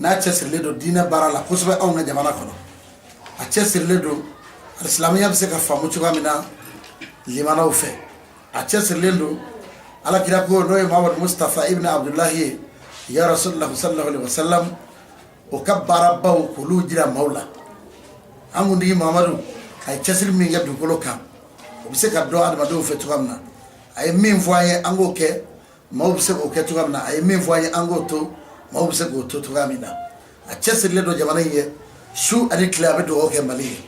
n'a cɛ sirilen don diinɛ baara la kosɛbɛ anw ka jamana kɔnɔ a cɛ sirilen don silamɛya bɛ se ka faamu cogoya min na limanaw fɛ a cɛ sirilen don ala kira ko n'o ye muhamadu mustafa ibn abdulahi ye ya rasulullah sallallahu alaihi wasallam o ka baarabaw k'olu jira maaw la an kuntigi muhamadu a ye cɛsiri min kɛ dugukolo kan o bɛ se ka dɔn adamadenw fɛ cogoya min na a ye min fɔ an ye an k'o kɛ maaw bɛ se k'o kɛ cogoya min na a ye min fɔ an ye an k'o to maaw bɛ se k'o to cogoya min na a cɛ sirilen don jamana in ye su ani tile a bɛ dugawu kɛ mali ye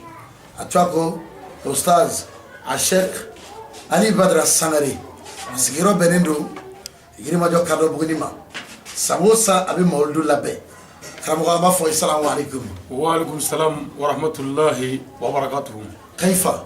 a tɔgɔ ko ustaz a sheikh ali badara sangare a sigiyɔrɔ bɛnnen don yirimajɔ kadɔbuguni ma san o san a bɛ mawuludu labɛn karamɔgɔ an b'a fɔ asalamu aleykum wa aleykum salam wa rahmatulahi wa barakatuhu kayifa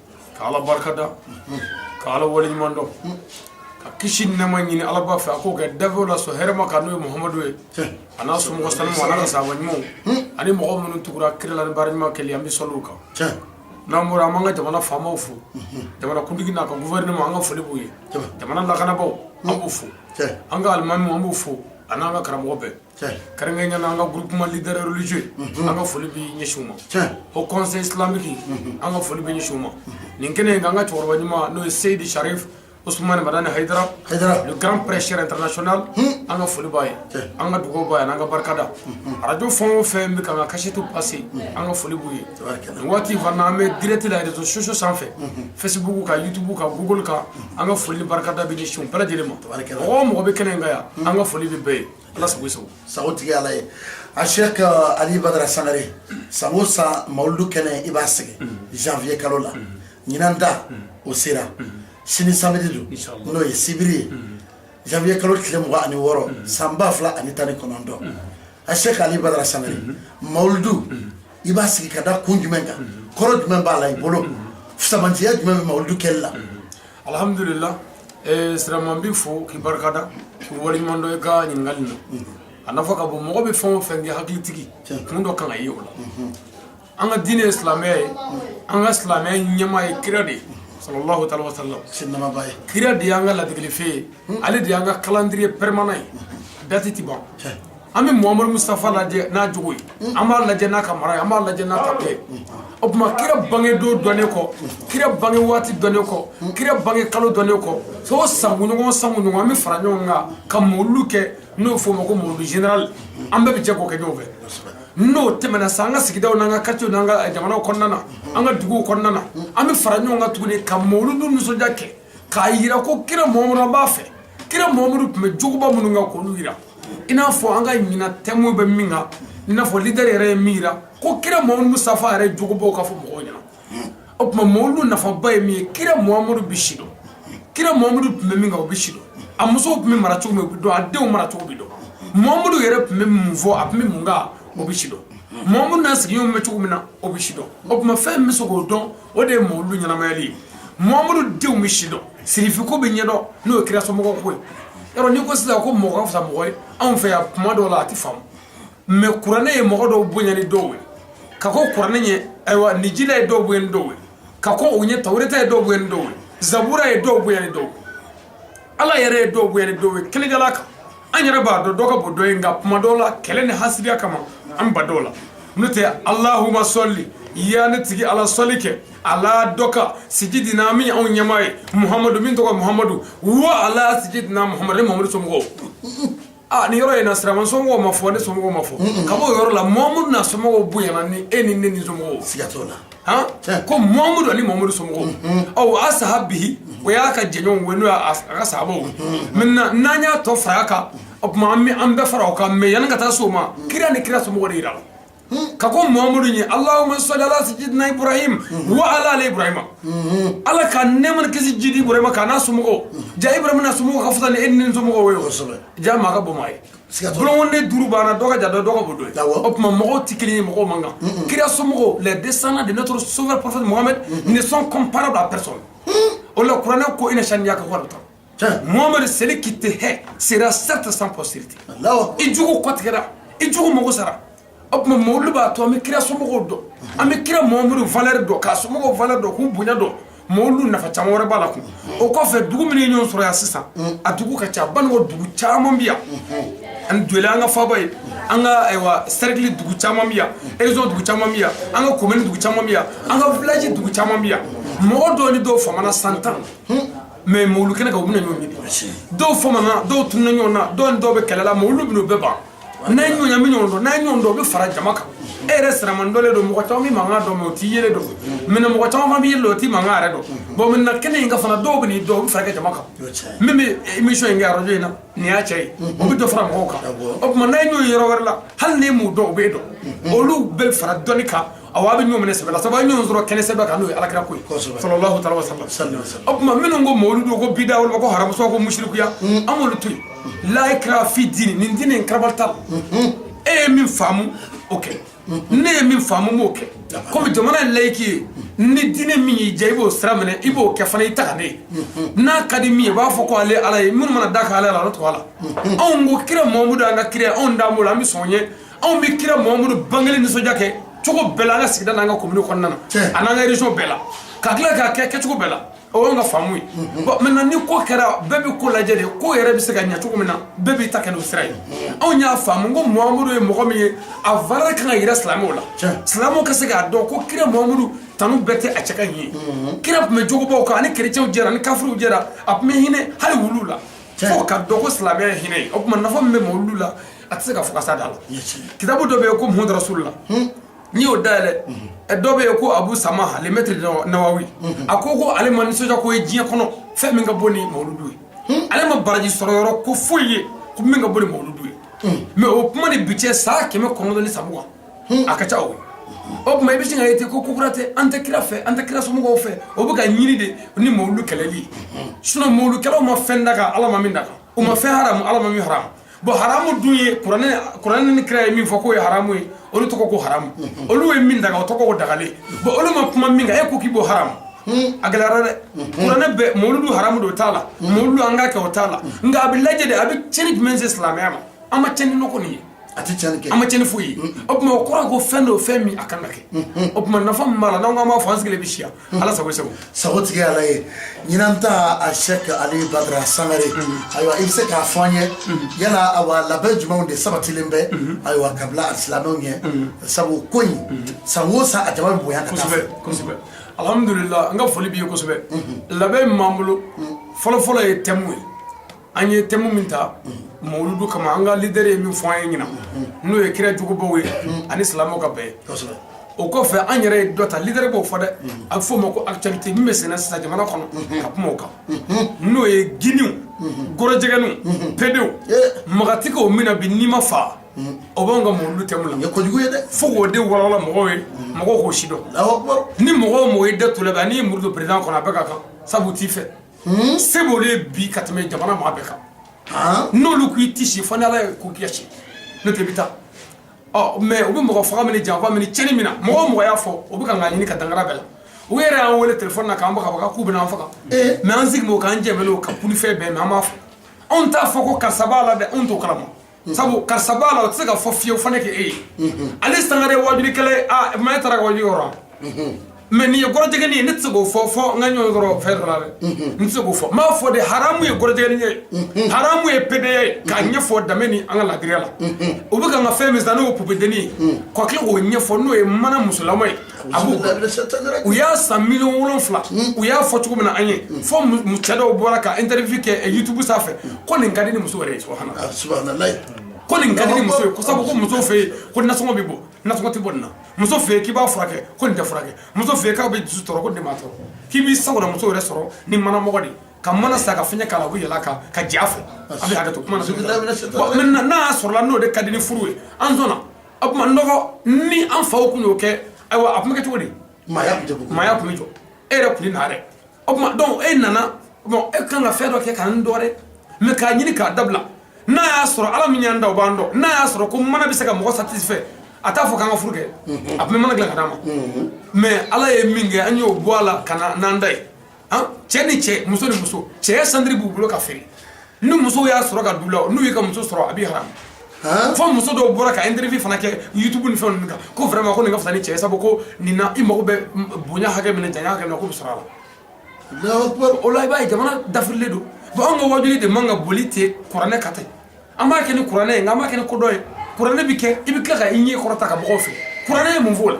ka ala barika da ka ala waleɲuman dɔn ka kisi ni nɛɛma ɲini alaba fɛ a k'o kɛ danfɛnw la sɔn hɛrɛma kan n'o ye muhamadu ye a n'a somɔgɔ sanumanw a n'a ka sahaba ɲumanw ani mɔgɔ minnu tugura kira la ni baara ɲuman kɛli an bɛ sɔli olu kan n'an bɔra an b'an ka jamana faamaw fo jamana kuntigi n'a ka gouvernement an ka foli b'u ye jamana lakanabaaw an b'u fo an ka alimamiw an b'u fo a n'an ka karamɔgɔ bɛɛ kɛrɛnkɛrɛnya na an ka groupement leader religieux an ka foli bɛ ɲɛsin u ma haut conseil islamique an ka foli bɛ ɲɛsin u ma nin kɛnɛ in kan an ka cɛkɔrɔba ɲuman n'o ye seyidi sharif Ousmane Madani Haidara, le grand prêcheur international, an ka foli b'a ye, an ka dugawu b'a ye, an ka barika da. Radio fɛn o fɛn bɛ k'an ka kasɛtiw passé, an ka foli b'u ye. Nin waati fana an bɛ direct la réseaux sociaux sanfɛ, Facebook kan, YouTube kan, Google kan, an ka foli ni barika da bɛ ɲɛsin u bɛɛ lajɛlen ma. Mɔgɔ o mɔgɔ bɛ kɛnɛ in kan yan, an ka foli bɛ bɛɛ ye. Ala sago sago sagotigi ala ye a sheikh ali badara sangare san o san mawuludu kɛnɛ i b'a sigi janvier kalo la ɲinan ta o sera sini samedi don n'o ye sibiri ye janvier kalo tile mugan ani wɔɔrɔ san ba fila ani tan ni kɔnɔntɔn a sheikh ali badara sangare mawuludu i b'a sigi ka da kun jumɛn kan kɔrɔ jumɛn b'a la i bolo fisamantiya jumɛn bɛ mawuludu kɛli la alhamdulila siraman n b'i fo k'i barikada k'i waleɲuman dɔn i ka ɲininkali na a nafa ka bon mɔgɔ bɛ fɛn o fɛn kɛ hakilitigi kun dɔ kan ayiwa o la an ka diinɛ ye silamɛya ye an ka silamɛya ɲɛmaa ye kira de ye sallallahu taala wasalam sinamaba ye kira de y'an ka ladegelifɛn ye ale de y'an ka calendrier permanent ye date tɛ ban an bɛ muhamadu mustafa lajɛ n'a jogo ye an b'a lajɛ n'a ka mara an b'a lajɛ n'a ta ye o tuma kira bange don dɔnnen kɔ kira bange waati dɔnnen kɔ kira bange kalo dɔnnen kɔ so sanɲɔgɔn san ɲɔgɔn an bɛ fara ɲɔgɔn kan ka mawuludu kɛ n'o f'o ma ko mawuludu général an bɛɛ bɛ jɛ k'o kɛ ɲɔgɔn fɛ n'o tɛmɛna sa an ka sigidaw n'an ka quartierw n'an ka jamana kɔnɔna na an ka dugu kɔnɔna na an bɛ fara ɲɔgɔn kan tuguni ka mawuludu nisɔndiya kɛ k'a jira ko kira Muhamadu b'a fɛ, kira Muhamadu tun bɛ jogoba minnu kan k'olu jira i n'a fɔ an ka ɲinan thème bɛ min kan i n'a fɔ leader yɛrɛ ye min jira ko kira Muhamadu Mustafa yɛrɛ jogobaw ka fɔ mɔgɔw ɲɛna, o tuma mawuludu nafaba ye min ye kira Muhamadu bɛ sidɔn, kira Muhamadu tun bɛ min kan o bɛ sidɔn, a musow tun bɛ mara cogo min o bɛ dɔn, a denw mara cogo bɛ dɔn, Muhamadu yɛrɛ tun bɛ mun fɔ a tun bɛ mun kɛ o bɛ sidɔn, Muhamadu n'a sigiɲɔgɔnw bɛ cogo min na o bɛ sidɔn, o tuma fɛn min bɛ se k'o dɔn o de ye mawludu ɲɛnamayali ye Muhamadu denw bɛ sidɔn sirifiko bɛ ɲɛdɔn n'o ye kira somɔgɔw ko ye yɔrɔ n'i ko sisan ko mɔgɔ ka fisa mɔgɔ ye anw fɛ yan tuma dɔw la a tɛ faamu mais kuranɛ ye mɔgɔ dɔw bonya ni dɔw ye ka kɔn kuranɛ ɲɛ ayiwa linjila ye dɔw bonya ni dɔw ye ka kɔn o ɲɛ tawureta ye dɔw bonya ni dɔw ye zabura ye dɔw bonya ni dɔw ye ala yɛrɛ ye dɔw bonya ni dɔw ye kɛlɛkɛla kan an yɛrɛ b'a dɔn dɔ ka bon dɔ ye nka kuma dɔw la kɛlɛ ni hasidiya kama an bɛ ban dɔw la n'o tɛ alahuma sɔli ya ne tigi ala sɔli kɛ ala dɔ kan sijidina min anw ɲɛmaa ye muhamadu min tɔgɔ muhamadu wa ala sijidina muhamadu ni muhamadu somɔgɔw Aa nin yɔrɔ in na Siraman somɔgɔw ma fɔ ne somɔgɔw ma fɔ ka b'o yɔrɔ la Muhamadu n'a somɔgɔw bonyana ni e ni ne ni somɔgɔw ye siga t'o la han tiɲɛ ko Muhamadu ani Muhamadu somɔgɔw wa asihabihi o y'a ka jɛɲɔgɔnw ye n'o y'a ka sahabaw ye maintenant n'an y'a tɔ far'a kan o tuma an bɛ an bɛɛ fara o kan mais yanni ka taa s'o ma kira ni kira somɔgɔw de yirala ka kɔn muhamadu ɲɛ alahuma sali ala sidina ibrahim wa ala ali ibrahima ala ka nɛɛma kɛ sijidi ibrahima kan n'a somɔgɔw jaa ibrahima n'a somɔgɔw ka fisa ni e ni n somɔgɔw ye wo jaa maa ka bon maa ye bolonkɔnden duuru b'an na dɔ ka jan dɔ dɔ ka bon dɔ ye o tuma mɔgɔw tɛ kelen ye mɔgɔw man kan kira somɔgɔw les descendants de notre sauveur prophète mohammed ne sont comparables à personne o la kuranɛ ko ina saniyaka huwal abutar Mohammed celui qui te hait sera certes sans postérité i jugu kɔtigɛra i jugu mɔgɔ sara o tuma mawuludu b'a to an bɛ kira somɔgɔw dɔn an bɛ kira Muhamadu valeur dɔn k'a somɔgɔw valeur dɔn k'u bonya dɔn mawuludu nafa caman wɛrɛ b'a la kun o kɔfɛ dugu min ɲɔgɔn sɔrɔ yan sisan a dugu ka ca ban dugu caman bɛ yan an joli an ka faba ye an ka ayiwa cercle dugu caman bɛ yan région dugu caman bɛ yan an ka commune dugu caman bɛ yan an ka village dugu caman bɛ yan mɔgɔ dɔ ni dɔw famana san tan mais mawuludu kɛnɛ kan u bɛna ɲɔgɔn ɲini dɔw famana dɔw tununa ɲɔgɔn na dɔw ni dɔw bɛ kɛlɛ la mawuludu bɛna o bɛɛ ban n'a ye ɲɔgɔn ye a bɛ ɲɔgɔn dɔn n'a ye ɲɔgɔn dɔn u bɛ fara jama kan e yɛrɛ siraman dɔlen don mɔgɔ caman b'i mankan dɔn mais u t'i yelen dɔn mais mɔgɔ caman fana b'i yelen dɔn u t'i mankan yɛrɛ dɔn bon minnu nana kɛnɛ in kan fana dɔw bɛn'i dɔn u bɛ fara i ka jama kan min bɛ émission in kɛ arajo in na nin y'a cɛ ye o bɛ dɔ fara mɔgɔw kan o tuma n'a ye ɲɔgɔn ye yɔrɔ wɛrɛ la hali n'i m'u dɔn u b'e dɔn olu bɛ fara dɔnni kan A aw bɛ ɲɔgɔn minɛ sɛbɛ la sabu a bɛ ɲɔgɔn sɔrɔ kɛnɛ sɛbɛ kan n'o ye ala kira ko ye o tuma minnu ko mawuludu ko bida olu ko haramu ko musirikuya an b'olu to yen la ikraha fi diini diinɛ karaba t'a la e ye min faamu o kɛ ne ye min faamu n b'o kɛ kɔmi jamana in layiki ye ni diinɛ min y'i diya i b'o sira minɛ i b'o kɛ fana i ta ne n'a ka di min ye b'a fɔ ko ale ala ye minnu mana da ale la a to ala la anw ko kira mamudu an ka kira anw dalen b'o la an bɛ sɔn ye anw bɛ kira mamudu bangekelen nisɔndiya kɛ cogo bɛɛ la an ka sigida n'an ka commune kɔnɔna na ani an ka région bɛɛ la ka tila k'a kɛ kɛcogo bɛɛ la o y'an ka faamu ye maintenant ni ko kɛra bɛɛ bɛ ko lajɛ de ko yɛrɛ bɛ se ka ɲɛ cogo min na bɛɛ b'i ta kɛ n'o sira ye anw y'a faamu ko mamudu ye mɔgɔ min ye a valeur kan ka yira silamɛw la silamɛw ka se k'a dɔn ko kira mamudu tanu bɛɛ tɛ a cɛ ka ɲi kira tun bɛ jogobaw kan ani kerecɛnw jɛra ni kafiriw jɛra a tun bɛ hinɛ hali wulu la fo k'a dɔn ko silamɛ hinɛ o tuma nafa min bɛ mawuludu la a tɛ se ka fɔ k'a sa da la kitabu dɔ bɛ yen ko muhamadu rasululahi n'i y'o dayɛlɛ dɔ bɛ yen ko abu sama le maître nawawi a ko ko ale ma nisɔndiya ko ye diɲɛ kɔnɔ fɛn min ka bon ni mawuludu ye ale ma baraji sɔrɔ yɔrɔ ko foyi ye ko min ka bon ni mawuludu ye mais o kuma ni bi cɛ san kɛmɛ kɔnɔntɔn ni sabu kan a ka ca o ye o tuma i bɛ sin k'a ye ten ko kokura tɛ an tɛ kira fɛ an tɛ kira somɔgɔw fɛ o bɛ ka ɲini de ni mawuludu kɛlɛli ye sinon mawuludu kɛlaw ma fɛn daga ala ma min daga u ma fɛn haramu ala ma min haramu bon haramu dun ye kuranɛ ni kira ye min fɔ k'o ye haramu ye olu tɔgɔ ko haramu olu ye min daga o tɔgɔ ko dagalen bon olu ma kuma min kan e ko k'i b'o haramu a gɛlɛyara dɛ kuranɛ bɛɛ mawuludu haramu don o t'a la mawuludu an k'a kɛ o t'a la nka a bɛ lajɛ de a bɛ tiɲɛni jumɛn se silamɛya ma an ma tiɲɛni nɔgɔ nin ye a tɛ tiɲɛni kɛ an ma tiɲɛni foyi ye o tuma o kɔrɔ ye ko fɛn don fɛn min a kan ka kɛ o tuma nafa min b'a la n'an ko an b'a fɔ an sigilen bɛ si yan ala sago sago sago tigi ala ye ɲinan ta a sɛk ali badara sangare ayiwa i bɛ se k'a fɔ an ye yala awa labɛn jumɛnw de sabatilen bɛ ayiwa ka bila alisilamɛw ɲɛ sabu ko in san o san a jama bɛ bonya ka taa a fɛ kosɛbɛ alhamdulila an ka foli b'i ye kosɛbɛ labɛn min b'an bolo fɔlɔfɔlɔ ye tɛmu ye an ye tɛmu min ta mawludu kama an ka leader ye min fɔ an ye ɲinan n'o ye kira jugubaw ye ani silamɛw ka bɛn o kɔfɛ an yɛrɛ ye dɔ ta leader b'o fɔ dɛ a bɛ f'o ma ko actualité min bɛ senna sisan jamana kɔnɔ ka kuma o kan n'o ye giniw gorojɛgɛninw pedew magatigiw min na bi n'i ma fa o b'anw ka mawludu tɛmu la kojugu ye dɛ fo k'o de walawala mɔgɔw ye mɔgɔw k'o sidɔn ni mɔgɔ o mɔgɔ y'i da t'u la bi ani y'i muru don président kɔnɔ a bɛɛ ka kan sabu u t'i fɛ se b'olu de ye bi ka tɛmɛ jamana maa bɛɛ kan n'olu ko i tɛ si fo n'ala ko k'i ka si n'o tɛ i bɛ taa mais u bɛ mɔgɔ faga min na janfa min na tiɲɛni min na mɔgɔ o mɔgɔ y'a fɔ u bɛ k'an ɲini ka dankari an bɛɛ la u yɛrɛ y'an weele téléphone na k'an baga k'u bɛna an faga mais an sigi k'an jɛ ka pfɛ bɛn mɛ an b'a fɔ anw t'a fɔ ko karisa b'a la dɛ anw t'o kalama sabu kasa b'a la o tɛ se ka fɔ fiyewu fo ne k'e ye ale sangare ye wajulikɛla ye aa maa e taara ka waju yɔrɔ la mais nin ye gɔrɔjɛgɛni ye ne tɛ se k'o fɔ fo n ka ɲɔgɔn sɔrɔ fɛn dɔ la dɛ n tɛ se k'o fɔ n b'a fɔ de haramu ye gɔrɔjɛgɛni ye haramu ye pedeya ye k'a ɲɛfɔ dame ni an ka laadiriya la u bɛ ka n ka fɛn min sisan n'o ye poupée dennin ye ka tila k'o ɲɛfɔ n'o ye mana musolama ye u y'a san million wolonwula u y'a fɔ cogo min na an ye fo cɛ dɔw bɔra ka interview kɛ youtube sanfɛ ko nin ka di ni muso subhanallah ko nin ka di ni muso ko sabu ko muso fɛ yen ko nasɔngɔ bɛ bɔ nasɔngɔ tɛ bɔ nin na muso fɛ yen k'i b'a furakɛ ko nin tɛ furakɛ muso fɛ yen k'a bɛ dusu tɔɔrɔ ko nin tɛ maa tɔɔrɔ k'i b'i sago la muso yɛrɛ sɔrɔ ni manamɔgɔ de ka mana san ka fiɲɛ k'a la u bɛ yɛlɛ a kan ka jɛ a fɛ a bɛ hakɛ to kuma na maintenant n'a y'a sɔrɔ n'o de ka di ni furu ye an sɔnna o tuma nɔgɔ ni an faw tun y'o kɛ ayiwa a tun bɛ kɛ cogo di maaya tun bɛ jɔ e yɛrɛ tun tɛ na dɛ o tuma donc e nana bon e kan ka fɛn dɔ kɛ k'an dɔ dɛ mais k'a ɲini k'a dabila n'a y'a sɔrɔ ala min y'an da o b'an dɔn n'a y'a sɔrɔ ko mana bɛ se ka mɔgɔ satisfait a t'a fɔ k'an ka furu kɛ a tun bɛ mana dilan ka d'an ma mais ala ye min kɛ an y'o bɔ a la ka na n'an ta ye cɛ ni cɛ muso ni muso cɛ ceinture b'u bolo ka feere ni muso y'a sɔrɔ ka du la n'u y'i ka muso sɔrɔ a b'i haram fo muso dɔw bɔra ka interview fana kɛ youtube ni fɛn ninnu kan ko vraiment ko nin ka fisa ni cɛ ye sabu ko nin na i mago bɛ bonya hakɛ min na janya hakɛ min na k'o bɛ sɔrɔ a la o la i b'a ye jamana dafirilen don bon anw ka wajuli de man ka boli ten kuranɛ kan ten an b'a kɛ ni kuranɛ ye nka an b'a kɛ ni kodɔn ye kuranɛ bɛ kɛ i bɛ tila ka i ɲɛ kɔrɔta ka mɔgɔw filɛ kuranɛ ye mun f'o la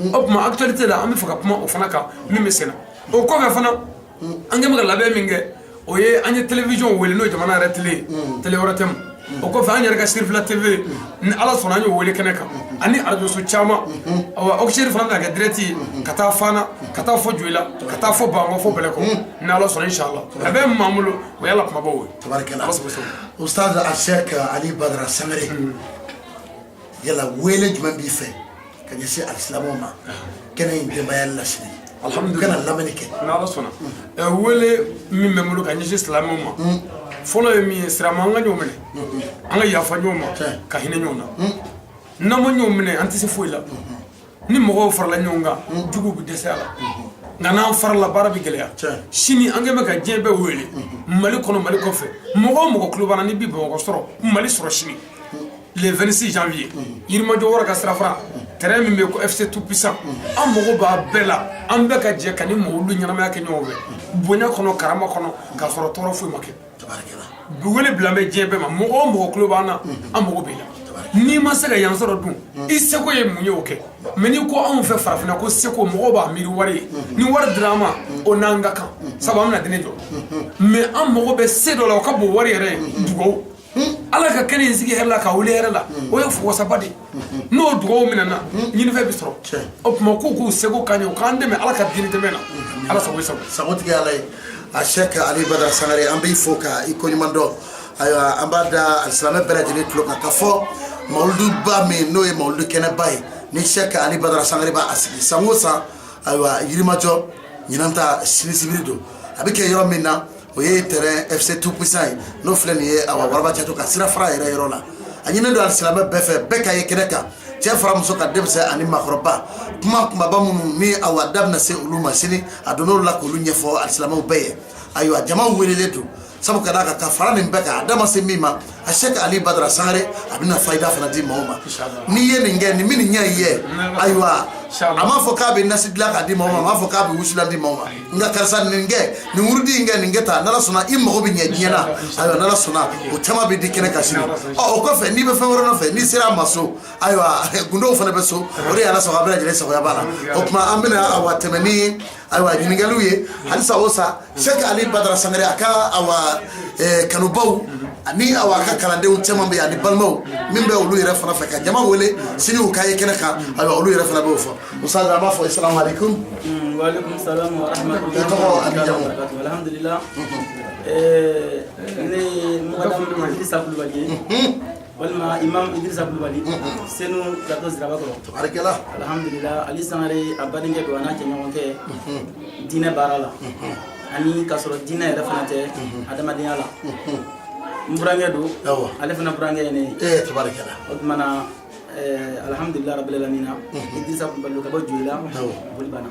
o tuma actualité la an b'a fɛ ka kuma o fana kan min bɛ senna o kɔfɛ fana an kɛn bɛ ka labɛn min kɛ o ye an ye télévision wele n'o ye jamana yɛrɛ télé ye télé wɛrɛ tɛ o kɔfɛ an yɛrɛ ka sirifila tv ni ala sɔnna an y'o wele kɛnɛ kan ani arajoso caman awa auxeri fana bɛna kɛ direct ye ka taa fana ka taa fo joyila ka taa fo bankɔ fo bɛlɛkɔ ni ala sɔnna inshallah a bɛ min b'an bolo o y'a la kumabaw ye tabarikala ustaz al sheikh ali badara sangare yala wele jumɛn b'i fɛ ka ɲɛsin alisilamɛw ma kɛnɛ in denbaya la sini alhamdu ka na lamɛnni kɛ n'ala sɔnna ɛ wele min bɛ n bolo ka ɲɛsin silamɛw ma fɔlɔ ye min ye silamɛ an ka ɲɔgɔn minɛ an ka yafa ɲɔgɔn ma ka hinɛ ɲɔgɔn na n'an ma ɲɔgɔn minɛ an tɛ se foyi la ni mɔgɔw farala ɲɔgɔn kan jugu bɛ dɛsɛ a la nka n'an farala baara bɛ gɛlɛya sini an kɛn bɛ ka diɲɛ bɛɛ wele mali kɔnɔ mali kɔfɛ mɔgɔ o mɔgɔ tulo b'an na n'i bɛ bamakɔ sɔrɔ mali sɔrɔ sini le 26 janvier yirimajɔ wara ka sirafara terrain min bɛ yen ko FC tout puissant an mago b'a bɛɛ la an bɛɛ ka jɛ ka ni mɔgɔw ɲɛnamaya kɛ ɲɔgɔn fɛ bonya kɔnɔ karama kɔnɔ k'a sɔrɔ tɔɔrɔ foyi ma kɛ wele bila bɛ diɲɛ bɛɛ ma mɔgɔ o mɔgɔ tulo b'an na an mago b'i la n'i ma se ka yan sɔrɔ dun i seko ye mun ye o kɛ mais n'i ko anw fɛ farafinna ko seko mɔgɔw b'a miiri wari ye ni wari dira an ma o n'an ka kan sabu an bɛna diinɛ jɔ mais an mago bɛ se dɔ la o ka bon wari yɛrɛ ye dugawu ala ka kɛnɛ in sigi hɛrɛ la ka wuli hɛrɛ la o ye wasaba de ye n'o dugawu minɛna ɲinifɛn bɛ sɔrɔ o tuma k'u k'u seko ka ɲɛ u k'an dɛmɛ ala ka diinɛ dɛmɛ na ala sago sago sagotigi ala ye a shekh ali badara sangare an b'i fo ka i koɲuman dɔn ayiwa an b'a da alisilamɛ bɛɛ lajɛlen tulo kan ka fɔ mawuluduba min n'o ye mawuludu kɛnɛba ye ni shekh ali badara sangare b'a a sigi san o san ayiwa yirimajɔ ɲinan ta sini sibiri don a bɛ kɛ yɔrɔ min na o ye tɛrɛn fc tout puissant ye n'o filɛ nin ye awa waraba caco ka sira fara yɛrɛ yɔrɔ la a ɲininen don alisilamɛ bɛɛ fɛ bɛɛ ka ye kɛnɛ kan cɛ fara muso kan denmisɛn ani maakɔrɔba kuma kunbaba minnu ni awa da bɛna se olu ma sini a don n'olu la k'olu ɲɛfɔ alisilamɛw bɛɛ ye ayiwa jama welelen don sabu ka d'a kan ka fara nin bɛɛ kan a da ma se min ma a shekh ali badara sangare a bɛna fayida fana di maaw ma n'i ye nin kɛ nin bɛ nin ɲɛ i ye ayiwa a m'a fɔ k'a bɛ nasi dilan k'a di maaw ma a m'a fɔ k'a bɛ wusulan di maaw ma nka karisa nin kɛ nin wurudi in kɛ nin kɛ tan n'ala sɔnna i mago bɛ ɲɛ diɲɛ na ayiwa n'ala sɔnna o caman bɛ di kɛnɛ kan sini ɔ o kɔfɛ n'i bɛ fɛn wɛrɛ nɔfɛ n'i sera a ma so ayiwa gundow fana bɛ so o de ye ala sɔrɔ a bɛɛ lajɛlen sagoya b'a la o tuma an bɛna awa tɛmɛ ni Ayiwa ɲininkaliw ye halisa o sa shekh ali badara sangare a ka awa kanubaw ani awa ka kalandenw caman bɛ yen ani balimaw min bɛ olu yɛrɛ fana fɛ ka jama wele sini u ka ye kɛnɛ kan awa olu yɛrɛ fana b'o fɔ ustaz an b'a fɔ sa walima imam idrisa kulubali senu plateau zirabakɔrɔ tabarikala alhamdulillah ali sangare a badenkɛ don a n'a jɛɲɔgɔn kɛ diinɛ baara la ani k'a sɔrɔ diinɛ yɛrɛ fana tɛ adamadenya la n burankɛ don ale fana burankɛ ye ne ye tabarikala o tuma na alhamdulillah rabbil alamin idrisa kulubali ka bɔ joyila bolibana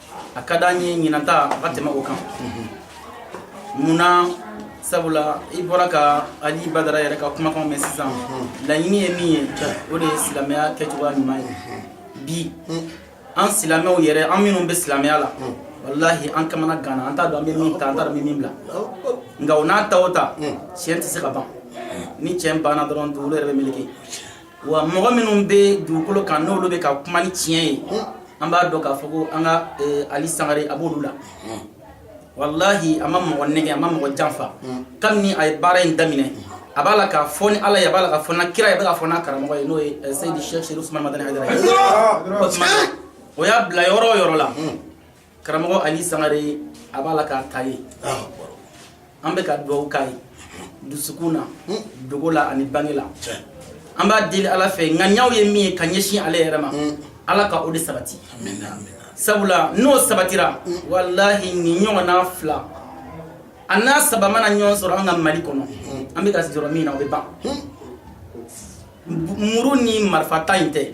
a ka di an ye ɲinanta a ka tɛmɛ o kan mun na sabula i bɔra ka ali badara yɛrɛ ka kumakanw mɛn sisan laɲini ye min ye o de ye silamɛya kɛcogoya ɲuman ye bi an silamɛw yɛrɛ an minnu bɛ silamɛya la walahi an kamanaganna an t'a dɔn an bɛ min ta an t'a dɔn an bɛ min bila nka o n'a ta o ta tiɲɛ tɛ se ka ban ni tiɲɛ banna dɔrɔn dugukolo yɛrɛ bɛ meleke wa mɔgɔ minnu bɛ dugukolo kan n'olu bɛ ka kuma ni tiɲɛ ye an b'a dɔn k'a fɔ ko an ka eh, ali sangare a b'olu la walahi a ma mɔgɔ nɛgɛn a ma mɔgɔ janfa kabini a ye baara in daminɛ a b'a la ka fɔ ni ala ye a b'a la ka fɔ n'a kira ye a bɛ ka fɔ n'a karamɔgɔ ye n'o ye eh, seyidi shekh sherif usman madani hayidara ye o tuma o y'a bila yɔrɔ o yɔrɔ la karamɔgɔ ali sangare a b'a la k'a ta ye an bɛ ka dugawu k'a ye dusukun na dogo la ani bange la an b'a deli ala fɛ ŋaniyaw ye min ye ka ɲɛsin ale yɛrɛ ma ala ka o de sabati sabula n'o sabatira walahi nin ɲɔgɔn n'a fila a n'a saba mana ɲɔgɔn sɔrɔ an ka mali kɔnɔ an bɛ ka jɔrɔ min na o bɛ ban muru ni marifa ta in tɛ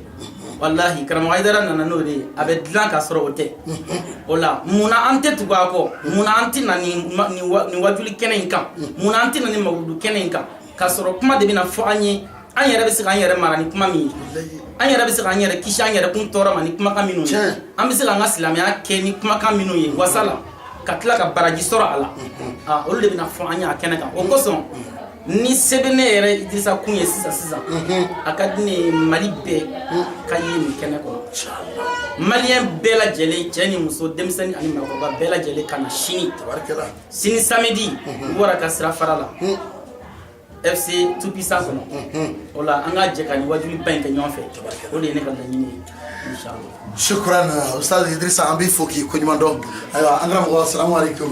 walahi karamɔgɔ Hayidara nana n'o de ye a bɛ dilan ka sɔrɔ o tɛ o la munna an tɛ tugu a kɔ munna an tɛ na nin wajuli kɛnɛ in kan munna an tɛ na nin mawuludu kɛnɛ in kan ka sɔrɔ kuma de bɛna fɔ an ye an yɛrɛ bɛ se k'an yɛrɛ mara ni kuma min ye an yɛrɛ bɛ se k'an yɛrɛ kisi an yɛrɛ kun tɔɔrɔ ma ni kumakan minnu ye an bɛ se k'an ka silamɛya kɛ ni kumakan minnu ye wasa la ka tila ka baraji sɔrɔ a la olu de bɛna fɔ an ye a kɛnɛ kan o kosɔn ni se bɛ ne yɛrɛ idrisa kun ye sisan sisan a ka di ne ye mali bɛɛ ka ye nin kɛnɛ kɔnɔ maliyɛn bɛɛ lajɛlen cɛ ni muso denmisɛnnin ani maakɔrɔba bɛɛ lajɛlen ka na sini sini samedi wara ka sira fara la fc tout puissant kɔnɔ o la an ka jɛ ka nin wajuli ba in kɛ ɲɔgɔn fɛ o de ye ne ka laɲini ye inshallah sukuran ustaz idrisa an b'i fo k'i koɲuman dɔn ayiwa an karamɔgɔ salamu aleykum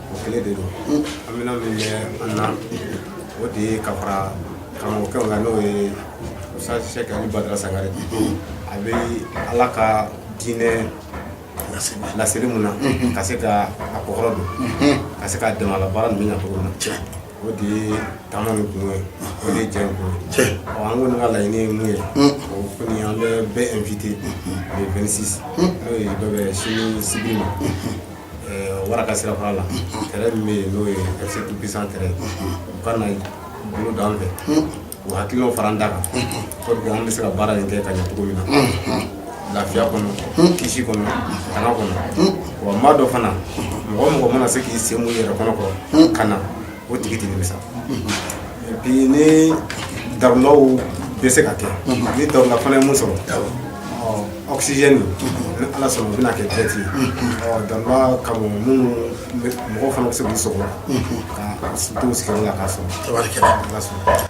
o kelen de don an bɛna min bɛ an na o de ye ka fara karamɔgɔkɛ kan n'o ye Ustaz Sɛki Ali Badara Sangare a bɛ Ala ka diinɛ laseli min na ka se ka a kɔkɔrɔ don ka se k'a dɛmɛ a la baara ninnu bɛ ɲɛ cogo min na o de ye taama nin kun ye o de ye jɛ in kun ye ɔ an kɔni ka laɲini ye mun ye o kɔni an bɛ bɛɛ invité le 26 n'o ye o bɛ bɛn sini sibiri ma wara ka sira fara la terrain min bɛ yen n'o ye fc tout puissant terrain u ka na bolo da an fɛ u hakilinaw fara an ta kan pour que an bɛ se ka baara in kɛ ka ɲɛ cogo min na lafiya kɔnɔ kisi kɔnɔ tanga kɔnɔ wa maa dɔ fana mɔgɔ o mɔgɔ mana se k'i sen mun yɛrɛ kɔnɔ kɔrɔ ka na O tigi tɛ nimisa et puis ni daw bɛ se ka kɛ ni dawula fana ye min sɔrɔ awsi ni ala sɔnna o bɛna kɛ dɛrɛti da ka mɔgɔ fana bɛ se' sɔrɔ ka sigi la ka sɔrɔ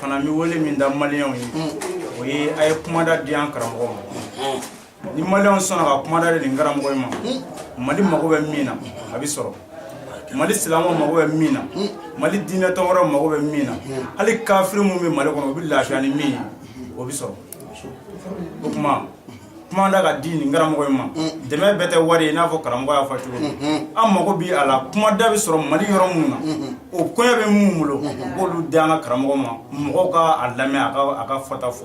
fana n bɛ wele min da maliyɛnw ye o ye a ye kumada di an karamɔgɔ ma ni maliyɛnw sɔnna ka kumada di nin karamɔgɔ in ma mali mago bɛ min na a bɛ sɔrɔ mali silamɛ mago bɛ min na mali diinɛ tɔgɔ wɛrɛ mago bɛ min na hali kafiri minnu bɛ mali kɔnɔ u bɛ lafiya ni min ye o bɛ sɔrɔ o tuma kuma da ka di nin karamɔgɔ in ma dɛmɛ bɛɛ tɛ wari ye n'a fɔ karamɔgɔ y'a fɔ cogo an mago bɛ a la kuma da bɛ sɔrɔ mali yɔrɔ minnu na o koɲɛ bɛ minnu bolo k'olu di an ka karamɔgɔ ma mɔgɔw k'a lamɛn a ka fɔta fɔ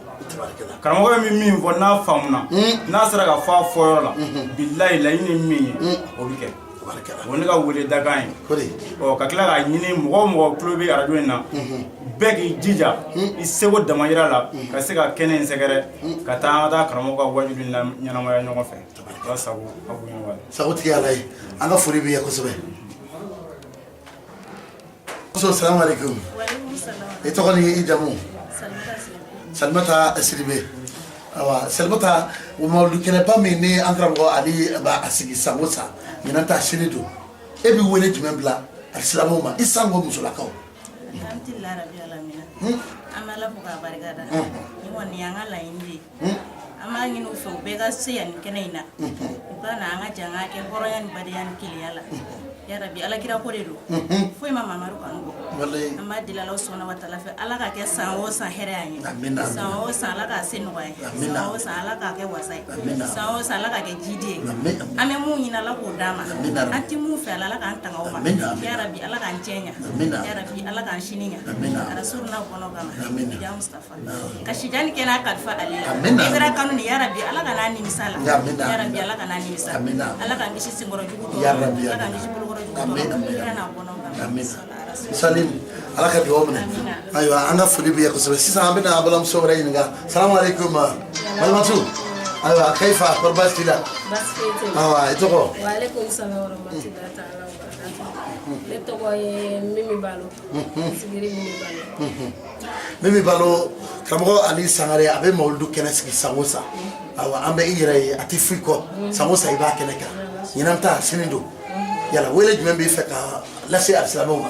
karamɔgɔ bɛ min fɔ n'a faamuna n'a sera ka fɔ a fɔyɔrɔ la bilayi laɲini min ye o bɛ kɛ o ne ka wele dakan ye ka tila k'a ɲini mɔgɔ o mɔgɔ tulo bɛ arajo in na bɛɛ k'i jija i seko damayira la ka se ka kɛnɛ in sɛgɛrɛ ka taa an ka taa karamɔgɔ ka wajulu ɲɛnamaya ɲɔgɔn fɛ sago sago tigi ala ye an ka foli b'i ye kosɛbɛ Muso salamu alaikum i tɔgɔ ni i jamu Salimata Sidibe awa Salimata mawuludu kɛnɛba min ni an karamɔgɔ Ali b'a sigi san o san ɲinan ta sini don e bɛ wele jumɛn bila alisilamɛw ma i sango musolakaw an b'a ɲini u fɛ u bɛɛ ka se yan ni kɛnɛ in na u ka na an ka jɛn k'a kɛ hɔrɔnya ni badenya ni kelenya la yarabi alakira ko de don foyi ma mamadu kanu bɔ an b'a deli ala subhanahu wa taala fɛ ala k'a kɛ san o san hɛrɛ y'an ye san o san ala k'a kɛ nɔgɔya ye san o san ala k'a kɛ wasa ye san o san ala k'a kɛ jidi ye an bɛ mun ɲini ala k'o d'an ma an tɛ mun fɛ ala ala k'an tanga o ma yarabi ala k'an cɛ ɲa yarabi ala k'an sini ɲa arasuluna kanu kama Ka sili kɛ kalifa alakira kanu ni ala ka ala kan'an nimisa ala ka dugaw minɛ ayiwa an ka foli b'i ye kosɛbɛ sisan an bɛna balimamuso wɛrɛ ɲininka salamu alaikum balimamuso ayiwa kaifa kɔri baasi t'i la i tɔgɔ Mimi Balo karamɔgɔ Ali Sangare a bɛ mawulidu kɛnɛ sigi san o san awa an bɛ i yɛrɛ ye a tɛ fɔ i kɔ san o san i b'a kɛnɛ kan ɲinan ta sini don yala wele jumɛn b'i fɛ ka lase alisilamɛw ma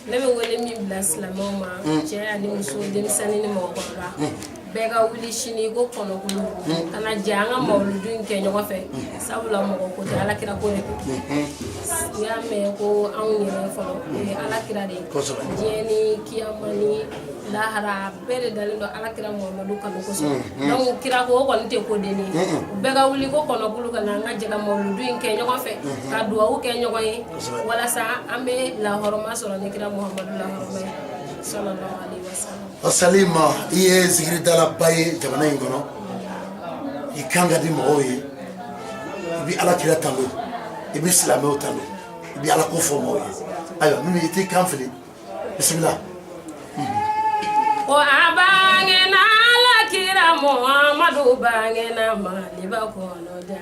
ne bɛ wele min bila silamɛw ma cɛ ani muso denmisɛnnin ni mɔgɔkɔrɔba bɛɛ ka wuli sini ko kɔnɔkulu ka na jɛ an ka mawuludu in kɛ ɲɔgɔn fɛ sabula mɔgɔ ko tɛ alakira ko de don n'i y'a mɛn ko anw yɛrɛ fɔlɔ o ye alakira de ye diɲɛ ni kiyama ni lahara bɛɛ de dalen don alakira muhamadu kanu kosɔn donc kira ko o kɔni tɛ ko dennin ye u bɛɛ ka wuli ko kɔnɔkulu ka na an ka jɛ ka mawuludu in kɛ ɲɔgɔn fɛ ka duwawu kɛ ɲɔgɔn ye walasa an bɛ lahɔrɔma sɔrɔ ni kira muhamadu lahɔrɔma ye sallallahu alaihi wasallam wasali ma i ye zikiridalaba ye jamana in kɔnɔ i kan ka di mɔgɔw ye i bɛ ala kira tanu i bɛ silamɛw tanu i bɛ ala ko fɔ mɔgɔw ye ayiwa mimi i t'i kan fili bisimila. o a bangena ala kira muhamadu bangena maliba kɔnɔ da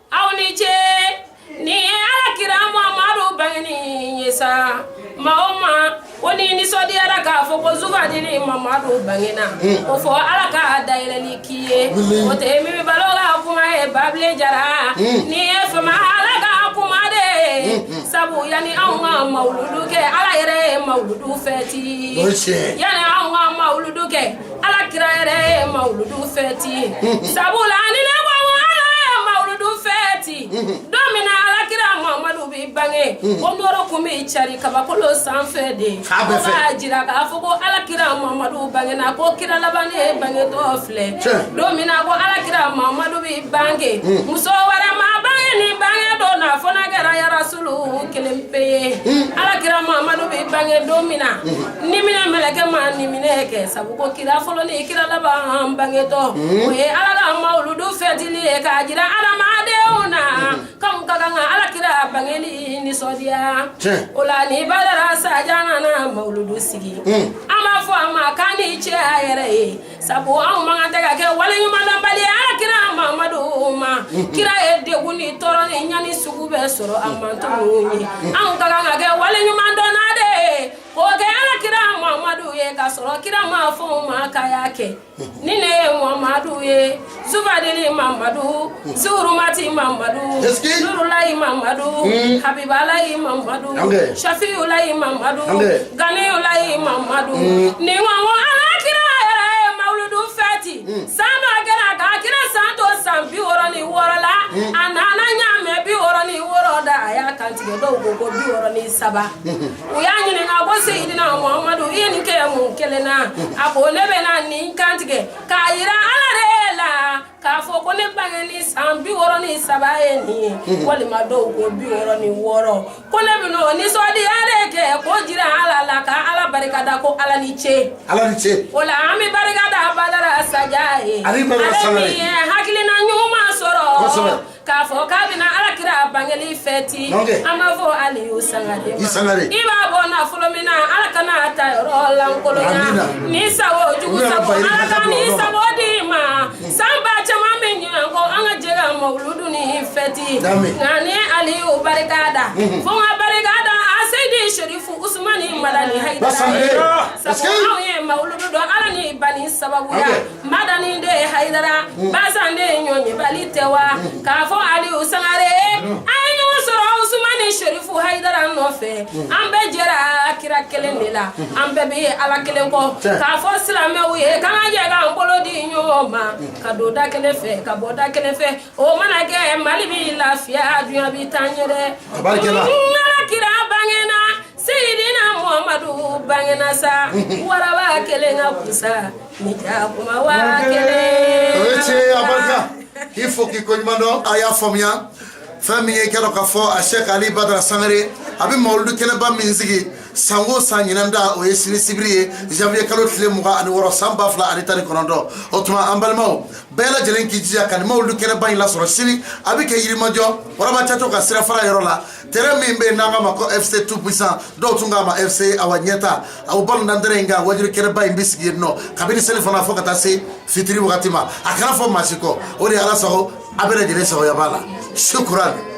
aw ni ce ni alakira muhamadu bangeni ye sa maa o maa o ni nisɔndiyara k'a fɔ ko zubadili mamadu bangena hmm. o fo ala ka dayɛlɛli k'i ye o tɛ mimi balo ka kuma ye babile jara hmm. nin ye faama ala ka kuma de hmm, sabu yanni anw ka mawuludu kɛ ala yɛrɛ ye mawuludu fɛti yanni anw ka mawuludu kɛ ala kira yɛrɛ ye mawuludu fɛti sabula ni ne ko ko ala ye mawuludu fɛti don min na ala kira mamadu bɛ bange o nɔrɔ kun bɛ cari kabakolo sanfɛ de K'a bɛɛ fɛ. K'a jira k'a fɔ ko ala kira mamadu bangena ko kira laban de bangetɔ filɛ Tiɲɛ. don min na ko ala kira mamadu bɛ bange muso wɛrɛ ma bange nin bange don na fo n'a kɛra yarasulu kelen pe ye ala kira mamadu bɛ bange don min na Ni minɛ mɛlɛkɛ ma ni minɛ kɛ sabu ko kira fɔlɔ ni kira laban bangetɔ o ye ala ka mawuludu fɛti ye k'a jira adamadenw na k'an ka kan ka ala kira bangeni nisɔndiya o la ni badara saja nana mawuludu sigi an b'a fɔ a ma k'a ni ce a yɛrɛ ye sabu anw man kan tɛ ka kɛ waleɲumandɔnbali ye ala kira mamadu ma kira ye degun ni tɔɔrɔ ni ɲani sugu bɛɛ sɔrɔ a manton ninnu ye anw ka kan ka kɛ waleɲumandɔnna de ye O kɛ ala kira mamadu ye ka sɔrɔ kira m'a fɔ a ma k'a y'a kɛ ni ne ye mamadu ye zubadili mamadu zurumati mamadu nurulayi mamadu habibalayi mamadu safiyulayi mamadu ganiyulayi mamadu ni ala kira yɛrɛ ye mawuludu fɛti san dɔ a kɛra ka kira san to san bi wɔɔrɔ ni wɔɔrɔ la a nana ɲamɛ bi wɔɔrɔ ni wɔɔrɔ da a y'a kantigɛ dɔw ko bi wɔɔrɔ ni saba u y'a ɲininka ko seyidina muhamadu i ye nin kɛ mun kelen na a ko ne bɛna nin kantigɛ k'a yira ala de la k'a fɔ ko ne bangeni san bi wɔɔrɔ ni saba ye nin ye mhm. walima dɔw ko bi wɔɔrɔ ni wɔɔrɔ ko ne bɛna o nisɔndiya de kɛ k'o jira ala la ka ala barika da ko ala ni ce ala ni ce o la an bɛ barika da badara saja ye ale min ye hakilina ɲuman sɔrɔ K'a fɔ k'a bɛna alakira bangeli fɛti an b'a fɔ aliyu sangare i b'a bɔ nafolo min na ala kana a ta yɔrɔ lankolonya ni sago jugu sago ala ka ni sago di ma san ba caman bɛ ɲinan kɔ an ka jɛ ka mawuludu nin fɛti nka ni aliyu barika da fo n ka barika da a seyidi sherifu usumani madani hayidara sabu an ye mawuludu dɔn ala ni bani sababu madani de ye hayidara mm. basan de ye ɲɔɲebali tɛ wa mm. k'a fɔ aliyu sangare mm. a ye ɲɔgɔn sɔrɔ usumani sherifu hayidara nɔfɛ an bɛɛ jɛra kira kelen de la an bɛɛ bɛ ala kelen kɔ k'a fɔ silamɛw ye k'an ka jɛ k'an bolo di ɲɔgɔn ma ka don da kelen fɛ ka bɔ da kelen fɛ o mana kɛ mali b'i lafiya duɲa bɛ taa ɲɛ dɛ ala kira bangena Seyidina Muhamadu bangena sa waraba kelen ka kusa ni jakuma wa kelen o ye tiɲɛ ye a barika k'i fo k'i koɲuman dɔn a y'a faamuya fɛn min ye i k'a dɔn k'a fɔ a sɛk ali badara sangare a bɛ mawuludu kɛnɛba min sigi san o san ɲinan ta o ye sini sibiri ye janvier kalo tile mugan ani wɔɔrɔ san ba fila ani tan ni kɔnɔntɔn o tuma an balimaw bɛɛ lajɛlen k'i jija ka nin mawuludu kɛnɛba in lasɔrɔ sini a bɛ kɛ yirimajɔ waraba caco ka sirafara yɔrɔ la tɛrɛn min bɛ yen n'an k'a ma ko fc tout puissant dɔw tun k'a ma fc awa ɲɛta o balontantɛrɛn in kan waajuli kɛnɛba in bɛ sigi yen nɔ kabini selifana fo ka taa se fitiri wagati ma a kana fɔ maa si kɔ o de ye ala sago a bɛɛ lajɛlen sagoya b'a la sukuran